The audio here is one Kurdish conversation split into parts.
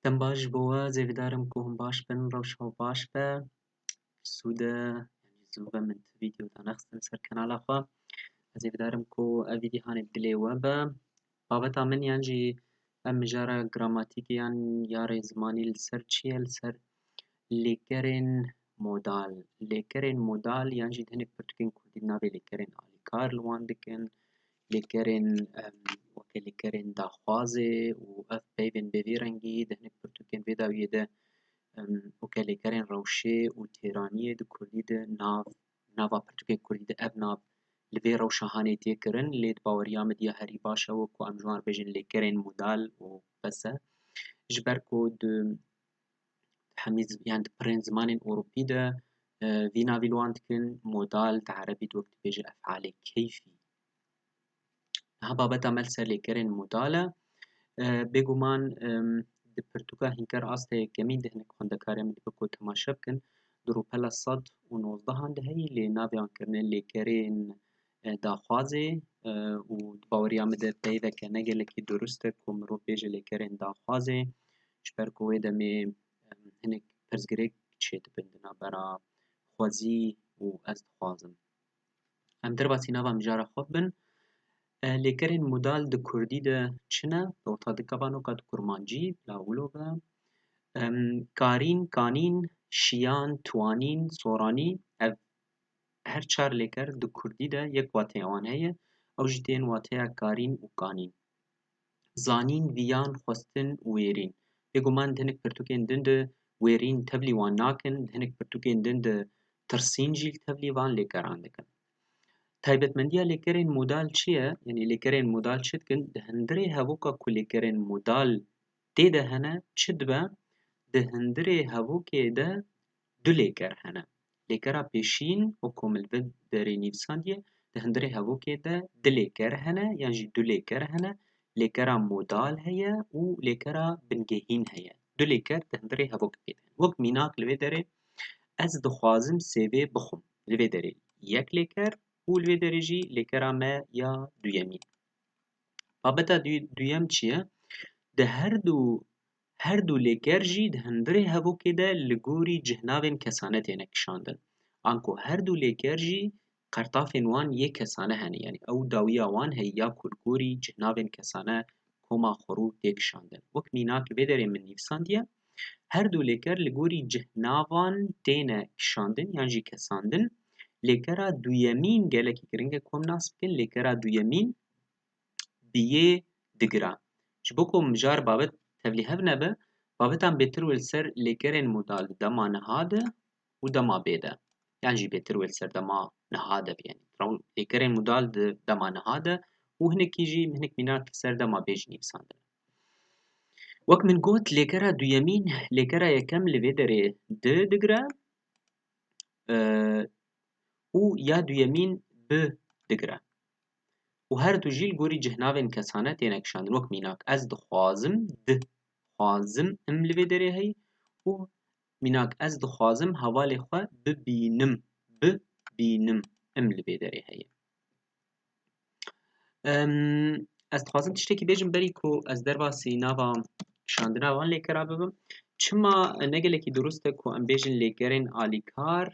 Dem baş ji bo we zêvîdar im ku hûn baş bin rewşa we baş be sûde zû ve min tu vîdyo danexistin ser kanala xwe ez zêvîdar im ku ev vîdyohanê bi dilê we be Babeta min yan jî em mijara gramatîkê yan yarê zimanî li ser çi ye? Li ser lêkerên modal. Lêkerên modal yan jî di hinek pirtûkên kurdî de navê lêkerên alîkar li wan dikin. Lêkerên weke lêkerên daxwazê û ev peyvên bê vî rengî di hinek pirtûkên vê dawiyê de weke lêkerên rewşê û têraniyê di kurdî de nav Di nava pirtûkên kurdî de ev nav li vê rewşa hanê tê kirin lê di baweriya min diya herî baş ew e ku em ji wan re bêjin lêkerên modal û bes e. Ji ber ku di hemî zi yan di pirrên zimanên ewropî de vî navî li wan dikin modal di erebî de wek dibêje efalê keyfî. Niha babeta me li ser lêkerên modal e. Bêguman di pirtûka hînker asteyê kemîn de hinek xwendekarên min dibin ku temaşe bikin. Di rûpela sed û nozdehan de heye lê naviyan kirine lêkerên daxwazê û di baweriya min de peyveke ne gelekî durust e ku mirov bêje lêkerên daxwazê ji ber ku wê demê hinek pirsgirêk çêdibin di navbera xwezî û ez dixwazim. Em derbasî nava mijara xwe bibin. Lêkerên modal di Kurdî de çi ne? Dota dikevanoka di Kurmancî, lawilo be. Karîn, kanîn, şiyan, twanîn, soranî ev her çar lêker di Kurdî de yek wateya wan heye. Ew jî tên wateya karîn û kanîn. Zanîn, viyan, xwestin û wêrîn. Bêguman di hinek pirtûkên din de wêrîn tevlî wan nakin, di hinek pirtûkên din de tirsîn jî li tevlî van lêkeran dikin. Taybetmendiya lêkerên modal çi ye? Yanî lêkerên modal çi dikin? Di hundirê hevoka ku lêkerên modal tê de hene çi dibe? Di hundirê hevokê de Du lêker hene. Lêkera pêşîn û ku min li vê derê nivîsandiye, di hundirê hevokê de di lêker hene yan jî du lêker hene. Lêkera modal heye û lêkera bingehîn heye. Du lêker di hundirê hevok pê de. Wek mînak li vê derê ez dixwazim sêvê bixwim. Li vê derê yek lêker û li vê derê jî lêkera me ya duyemîn. Babeta duyem çi ye? Di her du Her du lêker jî di hundirê hevokê de li gorî cihnavên kesane têne kişandin. Anko her du lêker jî qertafên wan yê kesane hene yanî ew dawiya wan heye ya ku li gorî cihnavên kesane koma xwerû tê kişandin. Wek mînak vê derê min nivîsandiye her du lêker li gorî cihnavan têne kişandin yan jî kesandin. Lêkera duyemîn gelekî giring e ku em nas bikin lêkera duyemîn bi yê digira. Ji bo ku mijar babet tevlîhev nebe, babetan bêtir wê li ser lêkerên modal di dema niha de û dema bê de yan jî bêtir wê li ser dema niha de biyên. Lêkerên modal di dema niha de û hinekî jî hinek mîna li ser dema bê jî nivîsandine. Wek min got lêkera duyemîn lêkera yekem li vê derê di digire û ya duyemîn bi digire. û her du jî li gorî cihnavên kesane têne kişandin wek mînak ez dixwazim di xwazim im li vê derê heyî û mînak ez dixwazim hevalê xwe bibînim bi bînim im li vê derê heyî ez dixwazim tiştekî bêjim berî ku ez derbasî nava kişandina van lêkera bibim çima negelekî durust e ku em bêjin lêkerên alîkar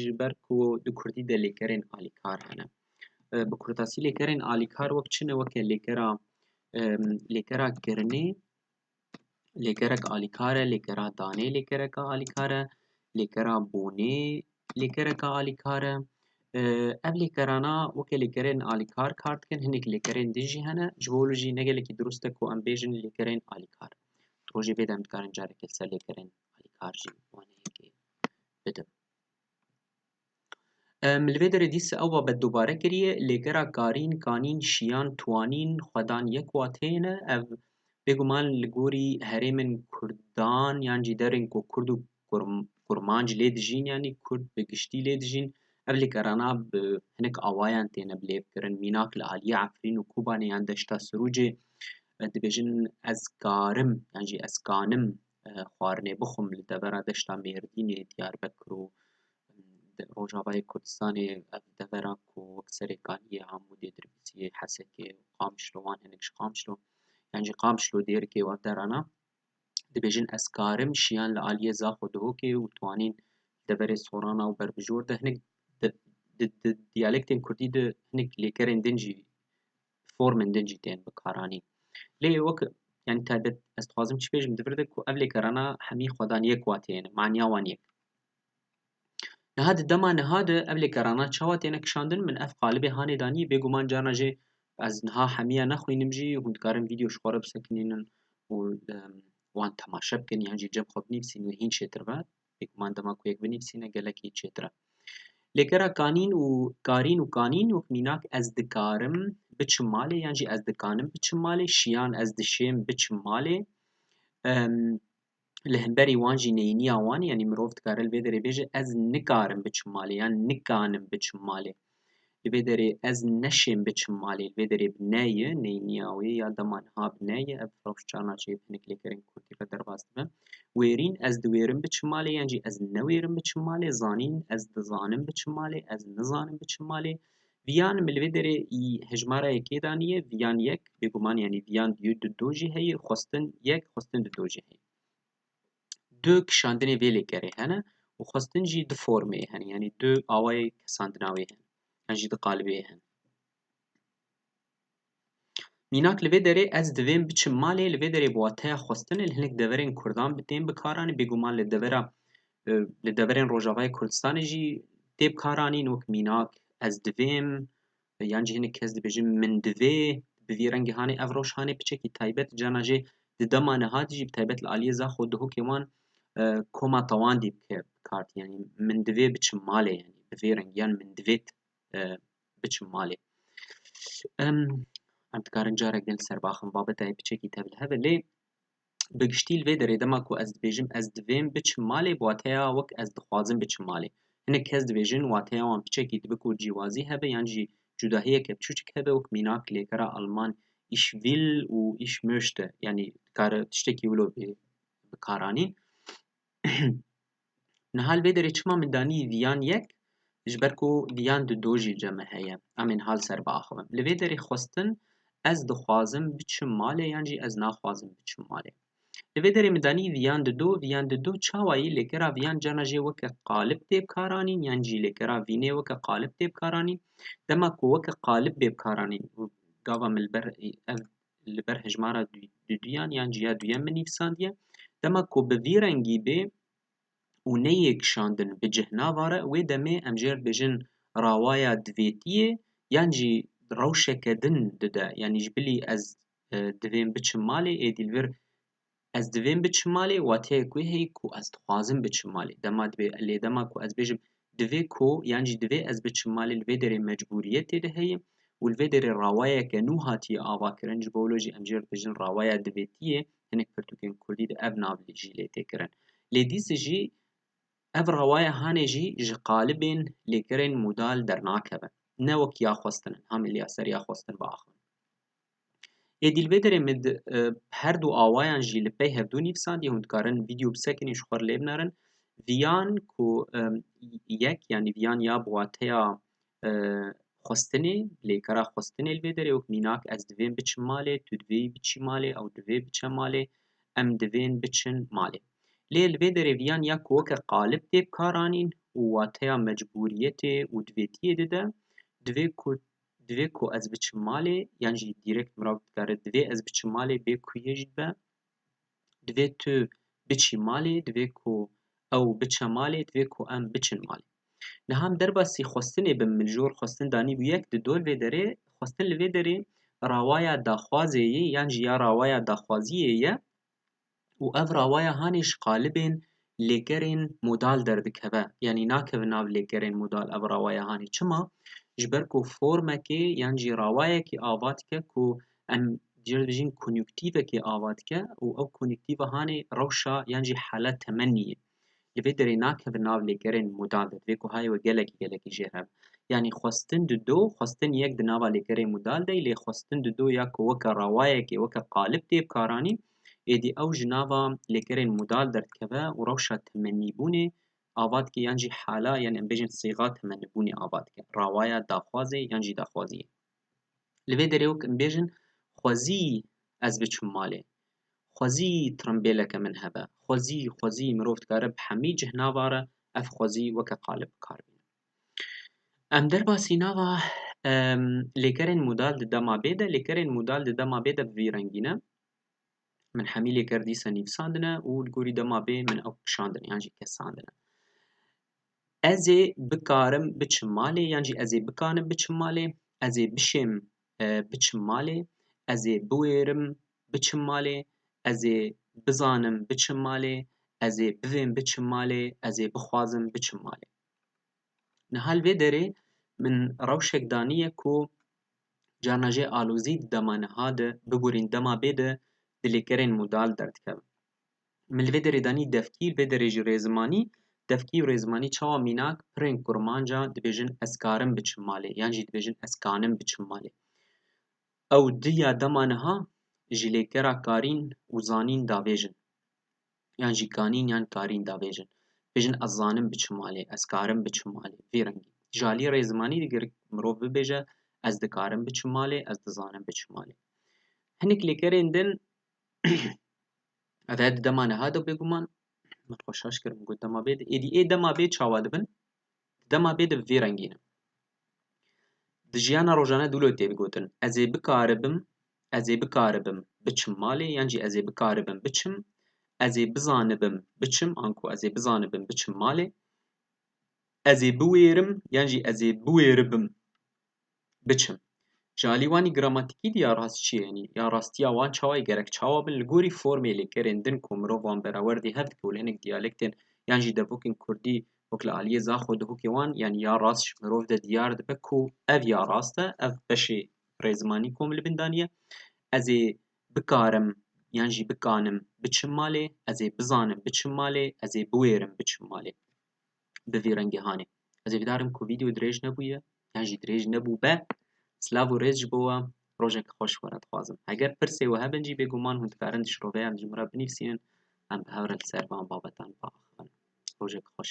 ji ber ku di kurdî de lêkerên alîkar hene Bi kurtasî lêkerên alîkar wek çi ne? Weke lêkera lêkera kirinê, lêkerek alîkar e, lêkera danê lêkereke alîkar e, lêkera bonê lêkereke alîkar e. Ev lêkerana weke lêkerên alîkar kar dikin, hinek lêkerên din jî hene. Ji bo wilo jî ne gelekî dirust e ku em bêjin lêkerên alîkar. Di rojê vê de em dikarin careke li ser lêkerên alîkar jî bidim. Em li vê derê dîsa ew babet dubare kiriye, lêgera karîn, kanîn, şiyan, twanîn, xwedan yek wateyê ne. Ev bêguman li gorî herêmên kurdan yan jî derên ku kurd û kurmanc lê dijîn yanî kurd bi giştî lê dijîn ev lêkerana bi hinek awayan têne bilêvkirin. Mînak li aliyê Efrîn û Kobanê yan Deşta Sirûcê dibêjin ez karim yan jî ez kanim. xwarinê bixwim li devera deşta Mêrdînê, Diyarbekir û Rojavayê Kurdistanê ev devera ku wek serê Kaniyê, Amûdê, Dirbisiyê, Hesekê û Qamişlo wan hinek ji Qamişlo yan jî Qamişlo dêrikê û ev derana dibêjin ez karim şiyan li aliyê Zaxo Duhokê û twanîn li deverê Sorana û Berbijor de hinek di diyalektên Kurdî de hinek lêkerên din jî bi formên din jî tên bikaranîn. Lê wek yanî taybet ez dixwazim çi bêjim di vir de ku ev lêkerana hemî xwedan yek wa têne, maniya wan yek. Niha di dema niha de ev lêkerana çawa têne kişandin? Min ev qalibê hanê danî, bêguman carna jê ez niha hemiya nexwînim jî hûn dikarin vîdeo ji xwe re bisekinînin û wan temaşe bikin yan jî cem xwe binivîsîn lê hîn çêtir be. Pêk man dema ku yek binivîsîne gelekî çêtir e. Lê kera kanîn û karîn û kanîn û mînak ez dikarim biçim malê yan jî ez dikanim biçim malê, şiyan ez dişêm biçim malê, li hemberî wan jî neyîniya wan e yanî mirov dikare li vê derê bêje ez nikarim biçim malê yan nikanim biçim malê. Li vê derê ez neşêm biçim malê, li vê derê bi ne ye, neyê niya wê ya dema niha bi ne ye, ev firoş çar naçe yê bi hinek lêkerên kurdî re derbas dibe. Wêrîn ez diwêrim biçim malê yan jî ez newêrim biçim malê, zanîn ez dizanim biçim malê, ez nizanim biçim malê. Viyan li vê derê hejmara yekê daniye, viyan yek, bêguman yanî viyan di do jî heye, xwestin yek, xwestin di do jî heye. du kişandinê vê lêkerê hene û xwestin jî du formê hene yanî du awayê kesandina wê hene yan jî du qalibê hene. Mînak li vê derê ez divêm biçim malê li vê derê bi wateya xwestinê li hinek deverên Kurdan tên bikaranîn bêguman li devera li deverên Rojavayê Kurdistanê jî tê bikaranîn wek mînak ez divêm Yan jî hinek kes dibêjin min divê bi vî rengê hanê ev roj hanê piçekî taybet cana jê di dema niha de jî bi taybet li aliyê Zaxo û Duhokê wan koma tewandî bike bi kar tî yanî min divê biçim malê yanî bi vê rengî yan min divêt biçim malê. Em em dikarin carek din li ser biaxivin babetayê piçekî tevlihev e lê Bi giştî li vê derê dema ku ez dibêjim ez divêm biçim malê bi wateya wek ez dixwazim biçim malê. Hinek kes dibêjin wateya wan piçekî dibe ku cîwazî hebe yan jî cudahiyeke piçûçik hebe wek mînak lêkera alman ich will û ich möchte yanî dikare tiştekî wilo bê bi kar anîn. Niha li vê derê çima min danî viyan yek? Ji ber ku viyan di do jî cem heye. Em ê niha li ser biaxivin. Li vê derê xwestin ez dixwazim biçim malê yan jî ez naxwazim biçim malê. Li vê derê min danî viyan di do, viyan di do çawa yî lêkera viyan cana jê weke qalib tê bikaranîn yan jî lêkera vînê weke qalib tê bikaranîn. Dema ku weke qalib bê bikaranîn û gava min li ber ev li ber hejmara duduyan yan cîya duyem min nivîsandiye. Dema ku bi vî rengî bê û neyê kişandin bi cih navare wê demê em jê re dibêjin rawaya divêtiyê yan jî rewşeke din dide yanî ji bilî ez divêm biçim malê êdî li vir Ez divêm biçim malê wateyê ku hêyî ku ez dixwazim biçim malê. Dema divê lê dema ku ez bêjim divê ku yan jî divê ez biçim malê li vê derê mecbûriyetê de heye û li vê derê rawayeke nû hatiye avakirin ji bo wilo jî em jê re dibêjin rawaya divêtî yê hinek pirtûkên kurdî de ev nav jî lê tê kirin. Lê dîs jî ev rawaya hanê jî ji qalibên lêkerên modal dernakevin. Ne wek ya xwestin in, hamî li ya ser ya xwestin biaxivin. Ê dîlbêderê min di her du awayan jî li pey hevdu nîvsandî hûn dikarin vîdyo bisekinîn ji xwe lê binerin viyan ku yek yanî viyan ya bi wateya xwestinê lêkera xwestinê li vê derê wek mînak ez divêm biçim malê tu divê biçî malê ew divê biçe malê em divên biçin malê lê li vê derê viyan ya ku weke qalib tê bikaranîn û wateya mecbûriyetê û divêtiyê dide divê ku Divê ku ez biçim malê yan jî direkt mirav dikare divê ez biçim malê bê ku yê jî be. Divê tu biçî malê, divê ku ew biçe malê, divê ku em biçin malê. Niha em derbasî xwestinê bin min jor xwestin danîbû yek di dol vê derê xwestin li vê derê rawaya daxwazê yê yan jî ya rawaya daxwaziyê ye û ev rawaya hanê ji qalibên lêkerên modal derdikeve. Yanî nakeve nav lêkerên modal ev rawaya hanê. Çima? Ji ber ku formekê yan jî rawayekê ava dike ku em dê ji bijîn konûktîvekê ava dike û ew konûktîva hanê rewşa yan jî hala temenî ye. Li vê derê nakevin nav lêkerên mûdan de, divê ku hayê we gelekî gelekî jêr heb. Yanî xwestin di do, xwestin yek di nava lêkerê mûdal de yî lê xwestin di do ya ku weke rewayekê, weke qalib tê bikaranîn, êdî ew ji nava lêkerên mûdal derdikeve û rewşa temenîbûnê ava dike yan jî hala yan em bêjin sîxa temenîbûnê ava dike, rewaya daxwazê yan jî daxwaziyê. Li vê derê wek em bêjin xwezî ez biçim malê, xwezî trimbêleke min hebe, xwezî, xwezî mirov dikare bi hemî cih nava re ev xwezî weke qalib bi kar bîne. Em derbasî nava lêkerên modal di dema bê de, lêkerên modal di dema bê de bi vî rengî ne. Min hemî lêker dîsa nivîsandine û li gorî dema bê min ew kişandine yan jî kesandine. Ez ê bikarim biçim malê yan jî ez ê bikanim biçim malê. Ez ê bişêm biçim malê. Ez ê biwêrim biçim malê. Ez ê bizanim biçim malê. Ez ê bivêm biçim malê. Ez ê bixwazim biçim malê. Niha li vê derê min rewşek daniye ku carna jê alozî di dema niha de, bigurîn dema bê de di lêkerên modal derdikevin. Min li vê derê de anî devkî, li vê derê jî rêzimanî. Devkî û rêzimanî çawa mînak pirên kurmancan dibêjin ez karim biçim malê yan jî dibêjin ez kanim biçim malê. Ew di ya dema niha ji lêkera karîn û zanîn davêjin yan jî kanîn yan karîn davêjin. Dibêjin ez zanim biçim malê, ez karim biçim malê vî rengî. Ji aliyê rêzimanî de gerek mirov bibêje ez dikarim biçim malê, ez dizanim biçim malê. Hinek lêkerên din Ev her di dema niha de bêguman min xwe şaş kir min got dema bê de êdî ê dema bê çawa dibin dema bê de bi vî rengî ne. Di jiyana rojane dûlo tê digotin ez ê bikaribim ez ê bikaribim biçim malê yan jî ez ê bikaribim biçim ez ê bizanibim biçim anku ez ê bizanibim biçim malê ez ê biwêrim yan jî ez ê biwêribim biçim. Ji alî wan î gramatikî dî ya rast çi ye yanî ya rastiya wan çawa ye gerek çawa bin li gorî formê lêkerên din ku mirov wan berewer dê hev dike û li hinek diyalektên yan jî devokên kurdî wek li aliyê zaxo dihokê wan yanî ya rast ji mirov de diyar dibe ku ev ya rast e ev beşê rêzimanî ku em li bin daniye ez ê bikarim yan jî bikanim biçim malê ez ê bizanim biçim malê ez ê biwêrim biçim malê. bi vî rengê hanê. Ez ê vîdarim ku vîdeo dirêj nebûye yan jî dirêj nebûbe. Silav û rêz ji bo we. Rojek xweş were dixwazim. Heger pirsê we hebin jî bêguman hûn dikarin di şiroveyan ji min re binivîsînin. Em bi hev re li ser van babetan biaxivin. Rojek xweş.